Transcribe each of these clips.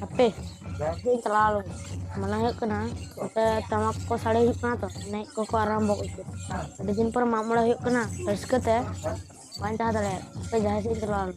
ᱦᱟᱯᱮ ᱤᱧ ᱪᱟᱞᱟᱣ ᱞᱮᱱ ᱢᱚᱱᱮ ᱦᱩᱭᱩᱜ ᱠᱟᱱᱟ ᱚᱱᱛᱮ ᱴᱟᱢᱟᱠ ᱠᱚ ᱥᱟᱰᱮ ᱦᱩᱭᱩᱜ ᱠᱟᱱᱟ ᱛᱚ ᱮᱱᱮᱡ ᱠᱚᱠᱚ ᱟᱨᱟᱢᱵᱚ ᱠᱮᱫᱟ ᱟᱹᱰᱤ ᱫᱤᱱ ᱯᱚᱨ ᱢᱟᱜ ᱢᱚᱬᱮ ᱦᱩᱭᱩᱜ ᱠᱟᱱᱟ ᱨᱟᱹᱥᱠᱟᱹ ᱛᱮ ᱵᱟᱹᱧ ᱛᱟᱦᱮᱸ ᱫᱟᱲᱮᱭᱟᱜ ᱦᱟᱯᱮ ᱡᱟᱦᱟᱸ ᱥᱮᱫ ᱤᱧ ᱪᱟᱞᱟᱣ ᱞᱮᱱ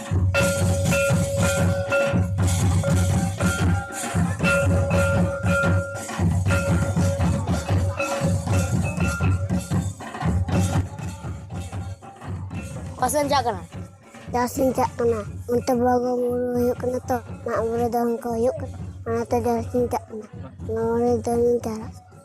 ᱯᱟᱥᱮᱢ ᱪᱟᱜ ᱠᱟᱱᱟ ᱡᱟᱦᱟᱸᱥᱮᱫ ᱤᱧ ᱪᱟᱜ ᱠᱟᱱᱟ ᱚᱱᱛᱮ ᱵᱚᱸᱜᱟ ᱵᱩᱨᱩ ᱦᱩᱭᱩᱜ ᱠᱟᱱᱟ ᱛᱚ ᱢᱟᱜ ᱢᱚᱬᱮ ᱫᱚᱱ ᱠᱚ ᱦᱩᱭᱩᱜ ᱠᱟᱱᱟ ᱚᱱᱟᱛᱮ ᱡᱟᱦᱟᱸᱥᱮᱫ ᱤᱧ ᱪᱟᱜ ᱠᱟᱱᱟ ᱢᱟᱜ ᱢᱚᱬᱮ ᱫᱚᱱᱤᱧ ᱪᱟᱞᱟᱜᱼᱟ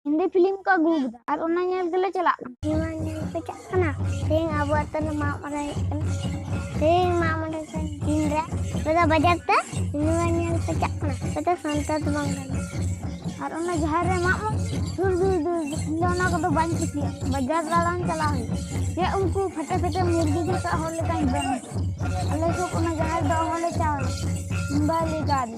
ᱦᱤᱱᱫᱤ ᱯᱷᱤᱞᱤᱢ ᱠᱚ ᱟᱹᱜᱩ ᱠᱟᱫᱟ ᱟᱨ ᱚᱱᱟ ᱧᱮᱞ ᱜᱮᱞᱮ ᱪᱟᱞᱟᱜ ᱠᱟᱱᱟ ᱱᱚᱣᱟ ᱧᱮᱞ ᱯᱮ ᱪᱟᱜ ᱠᱟᱱᱟ ᱛᱮᱦᱮᱧ ᱟᱵᱚ ᱟᱛᱳ ᱨᱮ ᱢᱟᱜ ᱢᱚᱬᱮ ᱦᱩᱭᱩᱜ ᱠᱟᱱᱟ ᱛᱮᱦᱮᱧ ᱢᱟᱜ ᱢᱚᱬᱮ ᱫᱤᱱ ᱨᱮ ᱟᱯᱮ ᱫᱚ ᱵᱟᱡᱟᱨ ᱛᱮ ᱱᱚᱣᱟ ᱧᱮᱞ ᱯᱮ ᱪᱟᱜ ᱠᱟᱱᱟ ᱟᱯᱮ ᱫᱚ ᱥᱟᱱᱛᱟᱲ ᱫᱚ ᱵᱟᱝ ᱠᱟᱱᱟ ᱟᱨ ᱚᱱᱟ ᱡᱟᱦᱮᱨ ᱨᱮ ᱢᱟᱜ ᱢᱚᱬᱮ ᱫᱩᱨ ᱫᱩᱨ ᱫᱩᱨ ᱤᱧ ᱫᱚ ᱚᱱᱟ ᱠᱚᱫᱚ ᱵᱟᱹᱧ ᱠᱩᱥᱤᱭᱟᱜᱼᱟ ᱵᱟᱡᱟᱨ ᱫᱟᱬᱟᱱ ᱪᱟᱞᱟᱣ ᱦᱩᱭᱩᱜᱼᱟ ᱡᱮ ᱩᱱᱠᱩ ᱯᱷᱮᱴᱮ ᱯᱷᱮᱴᱮ ᱢᱩᱨᱜᱤ ᱡᱚᱛᱚ ᱦᱚᱲ ᱞᱮᱠᱟᱧ ᱡᱚᱢ ᱟᱞᱮ ᱥᱩᱨ ᱚᱱᱟ ᱡᱟᱦᱮᱨ ᱫᱚ ᱦᱚᱲᱞᱮ ᱪᱟᱣ ᱢᱩᱢᱵᱟᱭ ᱞᱮ ᱪᱟᱣ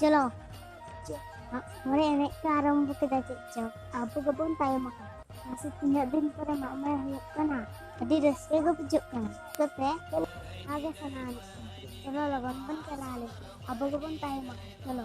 ᱪᱚᱞᱚ ᱢᱚᱬᱮ ᱮᱱᱮᱡ ᱠᱚ ᱟᱨᱟᱢᱵᱷᱚ ᱠᱮᱫᱟ ᱪᱮᱫ ᱪᱚ ᱟᱵᱚ ᱜᱮᱵᱚᱱ ᱛᱟᱭᱚᱢ ᱟᱠᱟᱱᱟ ᱢᱟᱥᱮ ᱛᱤᱱᱟᱹᱜ ᱫᱤᱱ ᱯᱚᱨᱮ ᱢᱟᱜ ᱢᱚᱬᱮ ᱦᱩᱭᱩᱜ ᱠᱟᱱᱟ ᱟᱹᱰᱤ ᱨᱟᱹᱥᱠᱟᱹ ᱜᱮ ᱵᱩᱡᱷᱟᱹᱜ ᱠᱟᱱᱟ ᱪᱤᱠᱟᱹᱛᱮ ᱟᱜᱮ ᱥᱟᱱᱟ ᱟᱹᱱᱤᱡ ᱪᱚᱞᱚ ᱞᱚᱜᱚᱱ ᱵᱚᱱ ᱪᱟᱞᱟᱣ ᱞᱮᱱ ᱟᱵᱚ ᱜᱮᱵᱚᱱ ᱛᱟᱭᱚᱢ ᱟᱠᱟᱱᱟ ᱪᱚᱞᱚ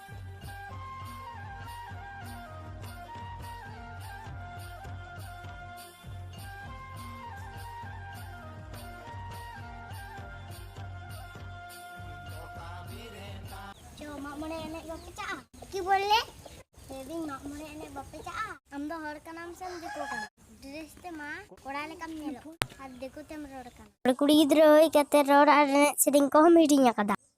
ᱢᱚᱬᱮ ᱮᱱᱮᱡ ᱵᱟᱯᱮ ᱪᱟᱜᱼᱟ ᱠᱤ ᱵᱚᱞᱮ ᱞᱟᱹᱭᱫᱟᱹᱧ ᱢᱟᱜ ᱢᱚᱬᱮ ᱮᱱᱮᱡ ᱵᱟᱯᱮ ᱪᱟᱜᱼᱟ ᱟᱢ ᱫᱚ ᱦᱚᱲ ᱠᱟᱱᱟᱢ ᱥᱮ ᱫᱤᱠᱩ ᱠᱟᱱᱟ ᱰᱨᱮᱥ ᱛᱮ ᱢᱟ ᱠᱚᱲᱟ ᱞᱮᱠᱟᱢ ᱧᱮᱞᱚᱜ ᱟᱨ ᱫᱤᱠᱩ ᱛᱮᱢ ᱨᱚᱲ ᱠᱟᱱᱟ ᱠᱩᱲᱤ ᱜᱤᱫᱽᱨᱟᱹ ᱦᱩᱭ ᱠᱟᱛᱮ ᱨᱚᱲ ᱟᱨ ᱮᱱᱮᱡ ᱥᱮᱨᱮᱧ ᱠᱚᱦᱚᱸᱢ ᱦᱤᱲᱤᱧ ᱟᱠᱟᱫᱟ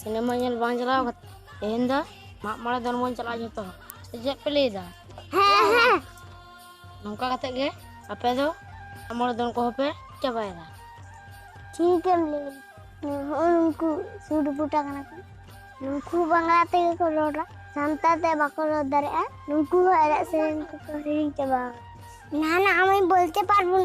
ᱥᱤᱱᱮᱢᱟ ᱧᱮᱞ ᱵᱟᱝ ᱪᱟᱞᱟᱣ ᱠᱟᱛᱮ ᱛᱮᱦᱮᱧ ᱫᱚ ᱢᱟᱜ ᱢᱚᱬᱮ ᱫᱚᱱ ᱵᱚᱱ ᱪᱟᱞᱟᱜᱼᱟ ᱡᱚᱛᱚ ᱦᱚᱲ ᱥᱮ ᱪᱮᱫ ᱯᱮ ᱞᱟᱹᱭᱫᱟ ᱦᱮᱸ ᱦᱮᱸ ᱱᱚᱝᱠᱟ ᱠᱟᱛᱮ ᱜᱮ ᱟᱯᱮ ᱫᱚ ᱢᱟᱜ ᱢᱚᱬᱮ ᱫᱚᱱ ᱠᱚᱦᱚᱸ ᱯᱮ ᱪᱟᱵᱟᱭᱮᱫᱟ ᱴᱷᱤᱠ ᱮᱢ ᱞᱟᱹᱭ ᱦᱚᱸᱜᱼᱚᱭ ᱱᱩᱠᱩ ᱥᱩᱴ ᱵᱩᱴᱟ ᱠᱟᱱᱟ ᱠᱚ ᱱᱩᱠᱩ ᱵᱟᱝᱞᱟ ᱛᱮᱜᱮ ᱠᱚ ᱨᱚᱲᱟ ᱥᱟᱱᱛᱟᱲ ᱛᱮ ᱵᱟᱠᱚ ᱨᱚᱲ ᱫᱟᱲᱮᱭᱟᱜᱼᱟ ᱱᱩᱠᱩ ᱦᱚᱸ ᱮᱱᱮᱡ ᱥᱮᱨᱮᱧ ᱠᱚᱠᱚ ᱦᱤᱲᱤᱧ ᱪᱟᱵᱟ ᱱᱟᱦᱟᱱᱟᱜ ᱟᱢᱤᱧ ᱵᱚᱞᱛᱮ ᱯᱟᱨᱵᱚᱱ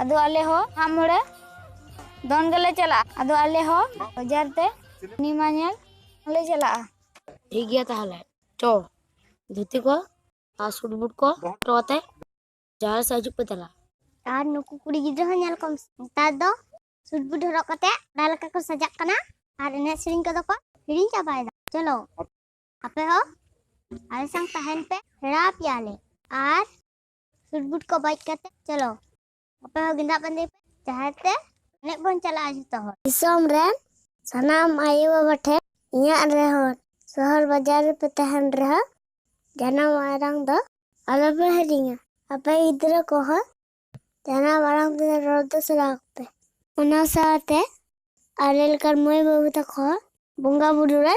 ᱟᱫᱚ ᱟᱞᱮ ᱦᱚᱸ ᱢᱟᱜ ᱢᱚᱬᱮ ᱫᱚᱱ ᱜᱮᱞᱮ ᱪᱟᱞᱟᱜᱼᱟ ᱟᱫᱚ ᱟᱞᱮ ᱦᱚᱸ ᱵᱟᱡᱟᱨ ᱛᱮ ᱥᱤᱱᱮᱢᱟ ᱧᱮᱞ ᱞᱮ ᱪᱟᱞᱟᱜᱼᱟ ᱴᱷᱤᱠ ᱜᱮᱭᱟ ᱛᱟᱦᱚᱞᱮ ᱪᱚ ᱫᱷᱩᱛᱤ ᱠᱚ ᱟᱨ ᱥᱩᱴ ᱵᱩᱴ ᱠᱚ ᱦᱚᱴᱚ ᱠᱟᱛᱮ ᱡᱟᱦᱟᱸ ᱥᱮᱫ ᱦᱤᱡᱩᱜ ᱯᱮ ᱫᱮᱞᱟ ᱟᱨ ᱱᱩᱠᱩ ᱠᱩᱲᱤ ᱜᱤᱫᱽᱨᱟᱹ ᱦᱚᱸ ᱧᱮᱞ ᱠᱚᱢ ᱱᱮᱛᱟᱨ ᱫᱚ ᱥᱩᱴ ᱵᱩᱴ ᱦᱚᱨᱚᱜ ᱠᱟᱛᱮ ᱚᱱᱟ ᱞᱮᱠᱟ ᱠᱚ ᱥᱟᱡᱟᱜ ᱠᱟᱱᱟ ᱟᱨ ᱮᱱᱮᱡ ᱥᱮᱨᱮᱧ ᱠᱚᱫᱚ ᱠᱚ ᱦᱤᱲᱤᱧ ᱪᱟᱵᱟᱭᱮᱫᱟ ᱪᱚᱞᱚ ᱟᱯᱮ ᱦᱚᱸ ᱟᱞᱮ ᱥᱟᱝ ᱛᱟᱦᱮᱱ ᱯᱮ ᱥᱮᱬᱟ ᱟᱯᱮᱭᱟᱞᱮ ᱟᱨ ᱥᱩᱴ ᱵᱩᱴ ᱠᱚ ᱵᱟᱡ ᱠᱟᱛᱮ ᱪᱚᱞᱚ ᱟᱯᱮ ᱦᱚᱸ ᱜᱮᱸᱫᱟᱜ ᱵᱟᱸᱫᱮ ᱯᱮ ᱡᱟᱦᱮᱨ ᱛᱮ ᱮᱱᱮᱡ ᱵᱚᱱ ᱪᱟᱞᱟᱜᱼᱟ ᱡᱚᱛᱚ ᱦᱚᱲ ᱫᱤᱥᱚᱢ ᱨᱮᱱ ᱥᱟᱱᱟᱢ ᱟᱭᱳ ᱵᱟᱵᱟ ᱴᱷᱮᱱ ᱤᱧᱟᱹᱜ ᱨᱮᱦᱚᱸ ᱥᱚᱦᱚᱨ ᱵᱟᱡᱟᱨ ᱨᱮᱯᱮ ᱛᱟᱦᱮᱱ ᱨᱮᱦᱚᱸ ᱡᱟᱱᱟᱢ ᱟᱲᱟᱝ ᱫᱚ ᱟᱞᱚᱯᱮ ᱦᱤᱲᱤᱧᱟ ᱟᱯᱮ ᱜᱤᱫᱽᱨᱟᱹ ᱠᱚᱦᱚᱸ ᱡᱟᱱᱟᱢ ᱟᱲᱟᱝ ᱛᱮ ᱨᱚᱲ ᱫᱚ ᱥᱮᱬᱟ ᱟᱠᱚᱯᱮ ᱚᱱᱟ ᱥᱟᱶᱛᱮ ᱟᱞᱮ ᱞᱮᱠᱟᱱ ᱢᱟᱹᱭ ᱵᱟᱹᱵᱩ ᱛᱟᱠᱚ ᱦᱚᱸ ᱵᱚᱸᱜᱟ ᱵᱩᱨᱩ ᱨᱮ